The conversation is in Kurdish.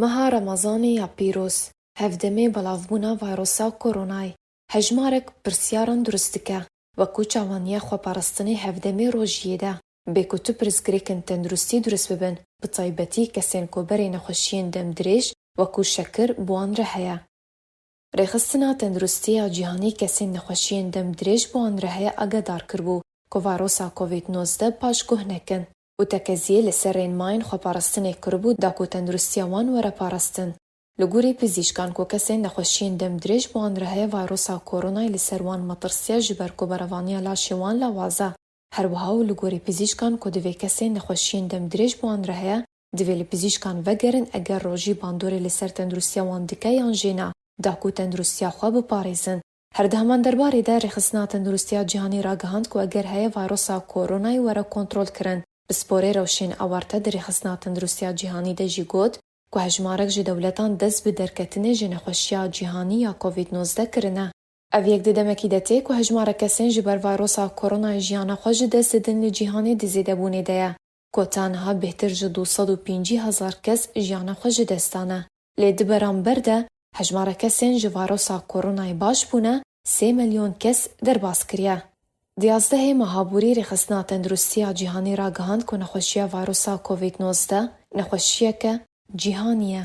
Meha Remezanê ya pîroz, hevdemê belavbûna vayrosa koronayê, hejmarek pirsyaran durist dike, wekû çavandiya xweparastinê hevdemê rojiyê de, bê ku tu pirsgirêkên tenduristî durist bibin, bi taybetî kesên ku berê nexweşiyên dem dirêj wekû şekir bi wan re heye. Rêxistina Tenduristî ya Cîhanî kesên nexweşiyên dem dirêj bi wan re heye agehdar kiribû ku vayrosa covid nozdeh paşguh nekin. û tekeziyê li ser rênmayên xweparastinê kiribû da ku tenduristiya wan were parastin. Li gorî pizîşkan ku kesên nexweşiyên dem dirêj bi wan re heye vayrosa koronayê li ser wan metirsiya ji ber ku berevaniya laşê wan lawaze. Her wiha û li gorî pizîşkan ku divê kesên nexweşiyên dem dirêj bi wan re heye divê li pizîşkan vegerin eger rojî bandorê li ser tenduristiya wan dike yan jê ne da ku tenduristiya xwe biparêzin. Her di heman derbarê de Rêxistina Tenduristiya Cîhanî ragihand ku eger heye vayrosa Koronayê were kontrolkirin bi sporê rewşên ewarte di Rêxistina Tenduristiya Cîhanî de jî got ku hejmarek ji dewletan dest bi derketinê ji nexweşiya cîhanî ya Covid nozdeh kirine. Ev yek di demekî de tê ku hejmarek kesên ji ber vayrosa Koronayê jiyana xwe ji dest didin li cîhanê di zêdebûnê de ye. ku tenha bêhtir ji du sed û pêncî hezar kes jiyana xwe ji dest dane. Lê di beramber de hejmara kesên ji varosa koronayê baş bûne sê milyon kes derbas kiriye. Di yazdehê meha borî Rêxistina Tenduristiya Cîhanî ragihand ku nexweşiya varosa covid nozdeh nexweşiyeke cîhanî ye.